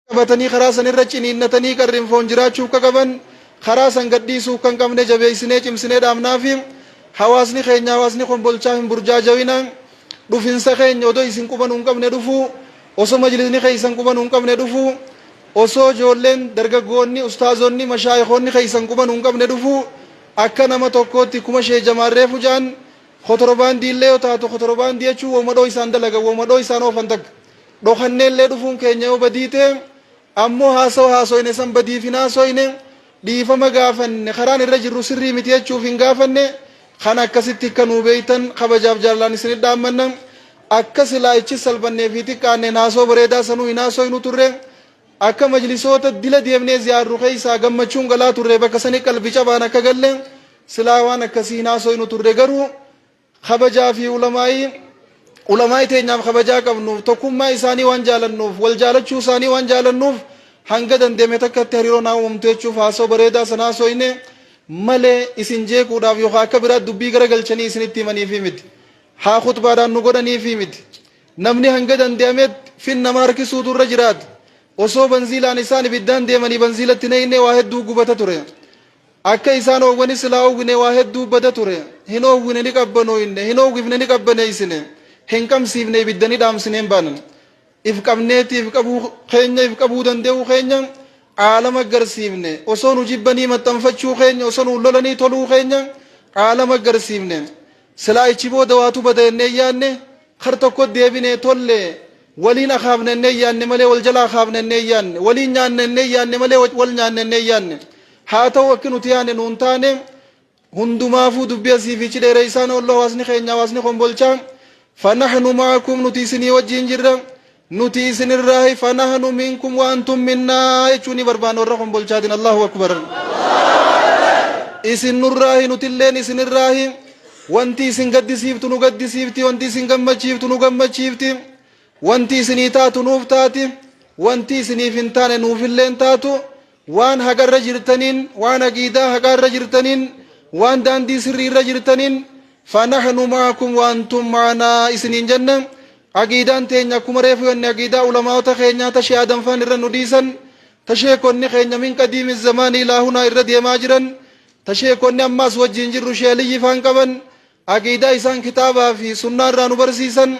qabatanii karaa san irra ciniinnatanii qarrin foon jiraachuu akka qaban karaa san gadhiisuu kan qabne jabeessinee cimsinee dhaabnaa fi hawaasni keenya hawaasni kombolchaa hin burjaajawina dhufinsa keenya odoo isin qubanuu hin qabne dhufuu osoo majlisni keessan qubanuu hin qabne dhufuu osoo ijoolleen dargaggoonni ustaazonni mashaayikoonni keessan qubanuu hin qabne dhufuu akka nama tokkootti kuma shee jamaarree fujaan kotorobaandii illee yoo taatu kotorobaandii jechuun woomadhoo isaan dalagan woomadhoo isaan oofan takka Dhokannee illee dhufuun keenya yoo badii ta'e ammoo haasawa haasoyne san badiif hin haasoyne, dhiifama gaafanne, karaan irra jirru sirrii miti jechuuf hin gaafanne, kan akkasitti akka nuu beektan kabajaaf jaalalaan isinit dhaammanna. Akka silaa ichi salphannee fi xiqqaanneen haasawa bareedaa sanuu hin haasoynu turre. Akka majlisoota dila deemnee ziyaarru keessaa gammachuun galaa turre bakka sani qalbi cabaan akka galle silaa waan akkasii hin haasoynu turre garuu Kabajaa fi ulamaa'ii Ulamaa'ii teenyaaf kabajaa qabnu tokkummaa isaanii waan jaalannuuf wal jaalachuu isaanii waan jaalannuuf hanga dandeeme takkatti hariiroo naa uumamtu jechuuf haasoo bareedaa sana haasooyne malee isin jeequudhaaf yookaan akka biraa dubbii gara galchanii isinitti himaniifii miti haa khutbaadhaan nu godhaniifii miti namni hanga dandeemetti fin nama harkisuutu irra jiraata osoo banziilaan isaan ibiddaan deemanii banziilatti neeynee waa hedduu gubata ture Akka isaan oowwani silaa oowwine waa hedduu bada ture. Hin oowwine ni qabbanooyne, hin oowwifne ni qabbaneeysine, hin qamsiifne ibidda ni dhaamsine hin baane. If qabneeti if qabuu keenya if qabuu dande'uu keenya aalama garsiifne. Osoo nu jibbanii maxxanfachuu keenya, osoo nuun lolanii toluu keenya aalama garsiifne. Silaa achi booda waatu bada jennee hin yaanne. Kar tokko deebinee tolle waliin akaafna ennee yaanne malee wal jala akaafna ennee yaanne waliin nyaanna ennee yaanne malee wal nyaanna ennee yaanne haa ta'u akki nuti yaanne nuun taane hundumaafuu dubbii asii fi ichi dheereessaan oollu hawaasni keenya hawaasni kombolchaa fanahnu maakum nuti isinii wajjiin jirra Nuti isin irraahi fanahnu minkum wa antum minnaa jechuu ni barbaanna warra kombolchaatiin Allahu akbar. Isin nurraahi nutilleen isin irraahi wanti isin gaddisiiftu nu gaddisiifti wanti isin gammachiiftu nu gammachiifti wanti isinii taatu nuuf taati wanti isiniif hin taane nuufilleen taatu Waan haqa irra jirtaniin, waan aqiidaa haqaa irra jirtaniin, waan daandii sirrii irra jirtaniin, fanahnu maakum waantum maanaa isiniin jenna. Aqiidaan teenya akkuma reefu jenne aqiidaa ulamaa'ota keenyaa ta Shee Adam faan irra nu dhiisan, ta sheekonni keenya min qadiimi zamaanii ilaa hunaa irra deemaa jiran, ta sheekonni ammaas wajjiin jirru Shee Aliyyi faan qaban, aqiidaa isaan kitaabaa fi sunnaa irraa nu barsiisan,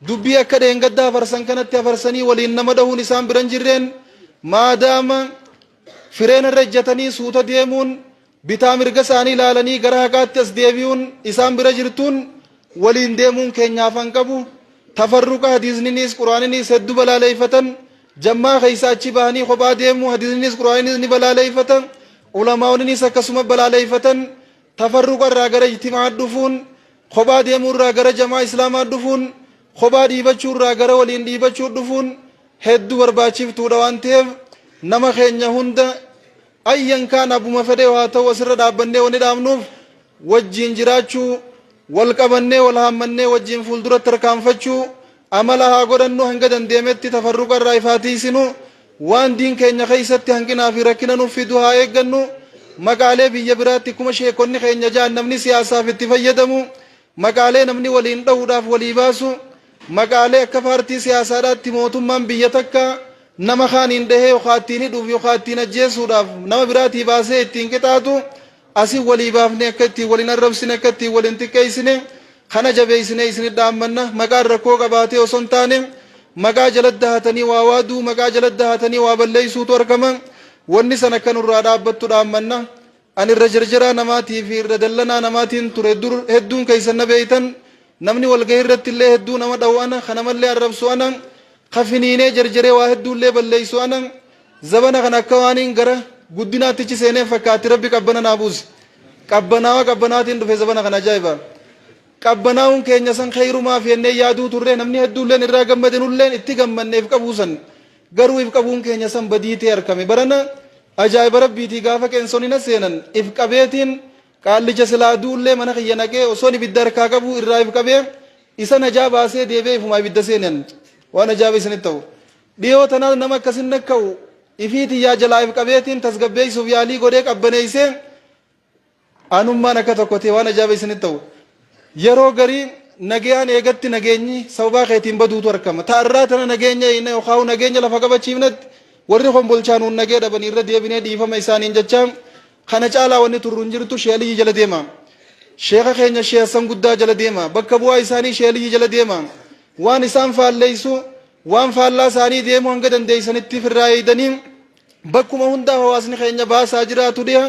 Dubbii akka dheengaddaa afarsan kanatti afarsanii waliin nama dhahuun isaan biran jirreen maadaama fireen irra ejjatanii suuta deemuun bitaa mirga isaanii ilaalanii gara haqaatti as deebi'uun isaan bira jirtuun waliin deemuun keenyaaf han qabu tafarruqa hadiisniniis quraaniniis heddu balaaleeffatan jammaa keessa achi bahanii kophaa deemuu hadiisniniis quraaniniis ni balaaleeffatan ulamaa'oninis akkasuma balaaleeffatan tafarruqa irraa gara ijtimaa dhufuun Kophaa deemuu irraa gara jamaa Islaamaa dhufuun, kophaa dhiibachuu irraa gara waliin dhiibachuu dhufuun heddu barbaachiftuudha waan ta'eef nama keenya hunda ayyan kaan abbuma fedhee haa ta'u asirra dhaabbannee wani dhaabnuuf wajjiin jiraachuu, wal qabannee wal haammannee wajjiin fuulduratti tarkaanfachuu, Amala haa godhannu hanga dandeemetti tafarruqa irraa if haa tiiysinu, waan diin keenya keeysatti hanqinaa fi rakkina nuuf fidu haa eeggannu, maqaalee biyya biraatti kkuma sheekkonni keenya ja'an namni siyaasaaf itti fayyadamu, maqaalee namni waliin dhawuudhaaf walii baasu, maqaalee akka paartii siyaasaadhaatti mootummaan biyya takkaa nama kaaniin dhahee yookaa ittiin hidhuuf yookaa ittiin ajjeesuudhaaf nama biraatii baasee ittiin qixaaxu Asin walii baafnee akka ittiin wal hin arrabsine, akka ittiin wal hin xiqqeessine kana jabeessinee isinit dhaammanna. Maqaan rakkoo qabaatee osoo hin taane maqaa jalatti dahatanii waa waaduu, maqaa jalatti dahatanii waa balleessuutu argama. Wanni san akka nurraa dhaabbattu dhaammanna. Ani irra jarjaraa namaatii fi irra dallanaa namaatiin ture dur hedduun keessan na beektan. Namni walgahii irratti illee hedduu nama dhawu ana, ka namallee arrabsu ana, ka finiinee jarjaree waa hedduu illee balleessu ana. Zabana kana akka waaniin gara guddinaatti ichi seeneen fakkaatti rabbi qabbana naa buuse. Qabbanaawa qabbanaatiin dhufe zabana kana ajaa'iba. Qabbanaa'uun keenya san kheyrumaaf yennee yaaduu turre namni hedduulleen irraa gammade nulleen itti gammanne if qabuu san. Garuu if qabuun keenya san badii ta'e arkame. Barana ajaa'iba rabbiitii gaafa qeensonni na seenan if qabeetiin qaallicha silaa du'ullee mana kiyya naqee osoon ibidda harkaa qabuu irraa if qabee isa najaa baasee deebi'ee ifumaa ibidda seenan. Waan ajaa'iba isinitti ta'u. Dhiyoo tanaas nama akkasin nakka'u ifii tiyyaa jalaa if qabeetiin tasgabbeessuuf yaalii godhee qabbaneessee anummaan akka tokko ta'e waan ajaa'iba isinitti ta'u. Yeroo garii nagayaan eegatti nageenyi sababaa keetiin baduutu argama. Ta'a irraa tana nageenya eegna yookaan nageenya lafa qabachiifnetti warri kombolchaa nuun nagee dhabanii irra deebinee dhiifama isaaniin jechaa kana caalaa wanni turru hin jirtu Shee Aliyyi jala deema. Sheeka keenya Shee Hassan Guddaa jala deema. Bakka bu'aa isaanii Shee Aliyyi jala deema. Waan isaan faalleessu Waan faallaa isaanii deemuu hanga dandeessanitti firraa eegdanii bakkuma hundaa hawaasni keenya baasaa jiraatu dhiha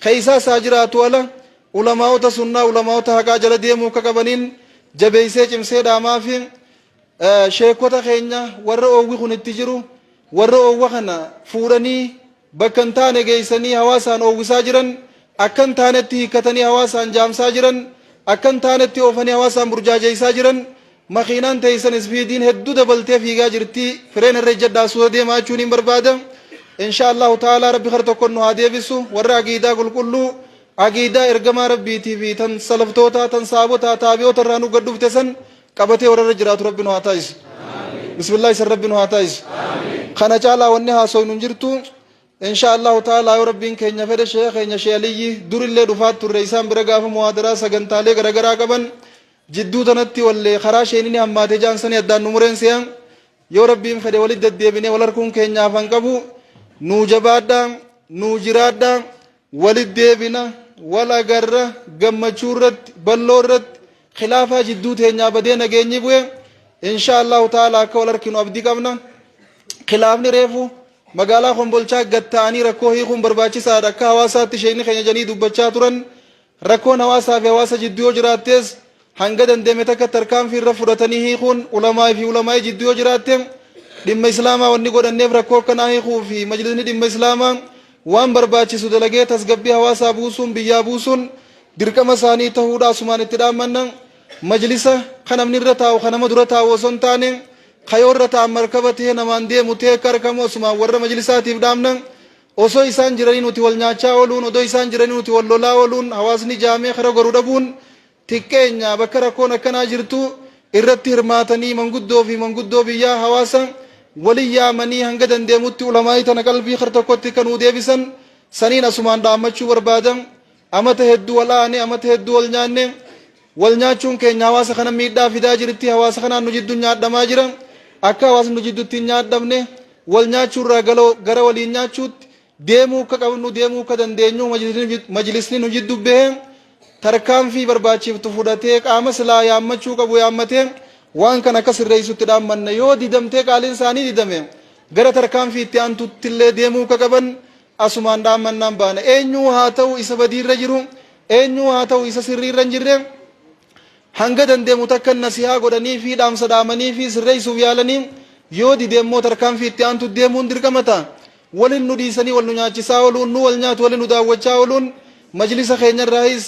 keessaa isaa jiraatu ala ulamaa'ota sunnaa ulamaa'ota haqaa jala deemuu akka qabaniin jabeessee cimsee dhaamaa fi sheekota keenya warra oowwi kun itti jiru warra oowwa kana fuudhanii bakka hin taane geessanii hawaasaan oowwisaa jiran, akka hin taanetti hiikkatanii hawaasaan jaamsaa jiran, akka hin taanetti oofanii hawaasaan burjaajeessaa jiran, makiinaan teessan isfiidiin hedduu dabaltee fiigaa jirti, fireena irra ijjadhaa suuta deemaa jechuuniin barbaada. Inshaa Allaahu ta'aalaa Rabbi kara tokkoon nu haa deebisu, warra aqiidaa qulqulluu, aqiidaa ergamaa Rabbiitii fi tan salaftootaa, tan sahaabotaa, taabi'oota irraa nu gad dhufte san, qabatee warra irra jiraatu rabbi nu haa taasisu bismillah isan rabbi nu haa taasisu kana caalaa wanni haasoynu hin jirtu insha allahu ta'ala yoo rabbiin keenya fedhe sheekha keenya shee aliyyi durillee dhufaat turre isaan bira gaafa muhaadaraa sagantaalee garagaraa qaban jidduu tanatti wallee karaa sheenini hammaate jaan sanii addaan nu mureen se'an yoo rabbiin fedhe walitti deddeebinee wal harkuun keenya hafan qabu nuu jabaadhaa nuu jiraadhaa Walit deebina, wal agarra, gammachuu irratti, balloo irratti, khilaafaa jidduu teenyaa badee nageenyi bu'e, inshaa Allaahu ta'aalaa akka wal arkinu abdii qabna. Khilaafni reefu magaalaa Kombolchaa gad ta'anii rakkoo hiikuun barbaachisaadha akka hawaasaatti sheekni keenya jedhanii dubbachaa turan. Rakkoon hawaasaa fi hawaasa jidduu yoo jiraattees Hanga danda'ame takkatti tarkaanfii irra fudhatanii hiikuun ulamaa'ii fi ulamaa'ii jidduu yoo jiraatte dhimma Islaamaa wanni godhanneef rakkoo akkanaa hiikuu fi majlisni dhimma Islaamaa waan barbaachisu dalagee tasgabbii hawaasaa buusuun biyyaa buusuun dirqama isaanii tahuudha asumaan itti dhaammanna majlisa ka namni irra taa'u ka nama dura taa'u osoo hin taane ka yoo irra taa'an markaba tahee namaan deemu tahee akka arkamu asumaan warra majlisaatiif dhaamna osoo isaan jiranii nuti wal nyaachaa ooluun odoo isaan jiranii nuti wal lolaa ooluun hawaasni jaamee kara goru dhabuun xiqqeenya bakka rakkoon akkanaa jirtu irratti hirmaatanii manguddoo fi manguddoo biyyaa hawaasa wali yaamanii hanga dandeemutti ulamaa'ii tana qalbii kar tokkotti akka nuu deebisan saniin asumaan dhaammachuu barbaada amata hedduu wal aane amata hedduu wal nyaanne wal nyaachuun keenya hawaasa kana miidhaa fidaa jirti hawaasa kanaan nu jiddu nyaadhamaa jira akka hawaasni nu jiddutti hin nyaadhamne wal nyaachuurraa gara waliin nyaachuutti deemuu akka qabnu deemuu akka dandeenyu majlisni nu jiddu bahee tarkaanfii barbaachiftu fudhatee qaama silaa yaammachuu qabu yaammatee waan kana akka sirreessutti dhaammanna yoo didamtee qaaliin isaanii didame gara tarkaanfii itti aantutti illee deemuu akka qaban asumaan dhaammannaan baana eenyuu haa ta'u isa badiirra jiru eenyuu haa ta'u isa sirriirra hin jirre Hanga dandeemu takkan nasihaa godhaniifii dhaamsa dhaamaniifii sirreessuuf yaalanii yoo dide immoo tarkaanfii itti aantutti deemuun dirqama ta'a. Walin nu dhiisanii wal nu nyaachisaa oluun, nu wal nyaatu wali nu daawwachaa oluun majlisa keenyarraahis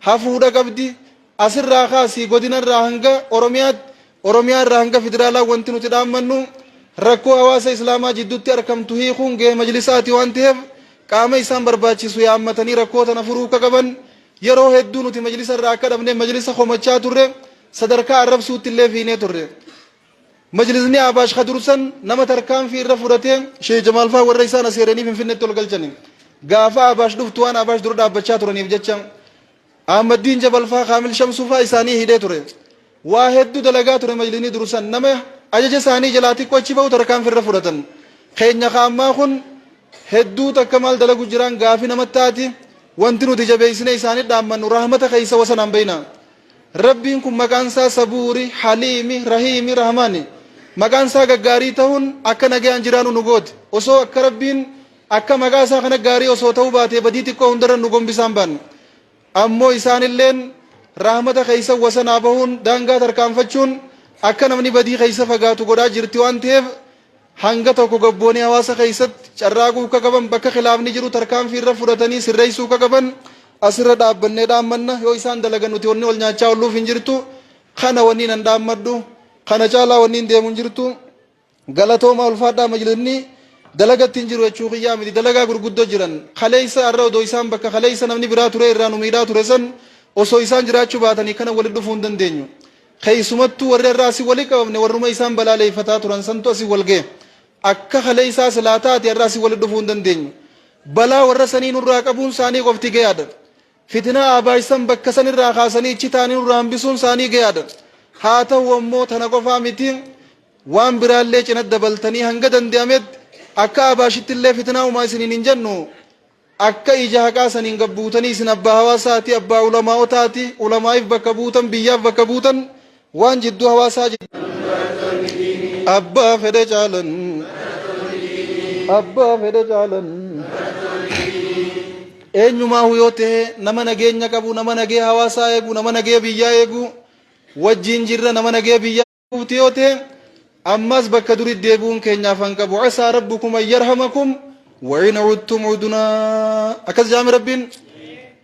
hafuudha qabdi. Asirraa kaasii godinarraa hanga Oromiyaatti, Oromiyaarraa hanga Federaalaa wanti nuti dhaammannu rakkoo hawaasa Islaamaa jidduutti arkamtu hiikuun gahee majlisaati waan taheef qaama isaan barbaachisu yaammatanii rakkoo tana furuu akka qaban Yeroo hedduu nuti majlisa irraa akka dhabnee majlisa komachaa turre, sadarkaa arrabsuutti illee fiinee turre. Majlisni Ahbaash ka dursan nama tarkaanfii irra fudhatee Sheikh Jamaal faa warra isaan aseeranii Finfinneetti ol galchani. Gaafa Ahbaash dhuftu waan Ahbaash dura dhaabbachaa turaniif jecha Ahmaddiin Jabal faa Kaamil Shamsuu faa isaanii hidhee ture. Waa heddu dalagaa ture majlinii dur san nama ajaja isaanii jalaa xiqqo achi bahu tarkaanfi irra fudhatan keenya ka ammaa kun hedduu takka maal dalagu jiraan gaafi nama taati wanti nuti jabeeysine isaanii dhaammannu rahmata keeysa wasanaan bayna rabbiin kun maqaan isaa sabuuri haliimi rahiimi rahmaani maqaan isaa gaggaarii tahun akka nagayaan jiraanu nu gooti osoo akka rabbiin akka maqaa isaa kana gaarii osoo ta'uu baatee badii xiqqoo hundarra nu gombisaan baanne Ammoo isaanilleen rahmata keeysan wasanaa bahuun, daangaa tarkaanfachuun, akka namni badii keeysa fagaatu godhaa jirti waan taheef, hanga tokko gabboonee hawaasa keeysatti carraaquu akka qaban, bakka khilaafni jiru tarkaanfii irra fudhatanii sirreeysuu akka qaban, as irra dhaabbannee dhaammanna, yoo isaan dalagan nuti wanni wal nyaachaa olluuf hin jirtu, kana wanniin an dhaammadhu, kana caalaa wanniin deemu hin jirtu. Galatoomaa ulfaadhaa majlisni dalagatti hin jiru jechuu kiyyaa miti dalagaa gurguddo jiran kaleessa arra odoo isaan bakka kaleessa namni biraa turee irraa nu miidhaa ture san osoo isaan jiraachuu baatanii kana walitti dhufuu hin dandeenyu keessumattuu warri irraa asii wali qabamne warruma isaan balaaleeffataa turan santu asii wal ga'e akka kaleessaa silaa taate irraa asii walitti dhufuu hin dandeenyu balaa warra sanii nurraa qabuun isaanii qofti gayaadha Fitinaa abaaysan bakka san irraa kaasanii ichi taanii nurraa hambisuun isaanii gayaadha. Haa tahu ammoo tana qofaa miti waan biraallee cinat dabaltanii hanga dande'amet akka Abaashittillee fitinaa umaa isiniin hin jennu akka ija haqaa saniin gad buutanii isin abbaa hawaasaati, abbaa ulamaa'otaati, ulamaa'if bakka buutan, biyyaaf bakka buutan Waan jidduu hawaasaa jidduu. Abbaa fedhe caalan. Abbaa fedhe caalan. Eenyumaa yoo ta'e nama nageenya qabu, nama nagee hawaasaa eegu, nama nagee biyyaa eegu, wajjin jirra nama nagee biyyaa eeguuti yoo ta'e ammas bakka durii deebi'uun keenyaaf kan qabu. Asaa rabbukum ayyarhamakum wa'in cudtum cudunaa. Akkas jaami rabbiin.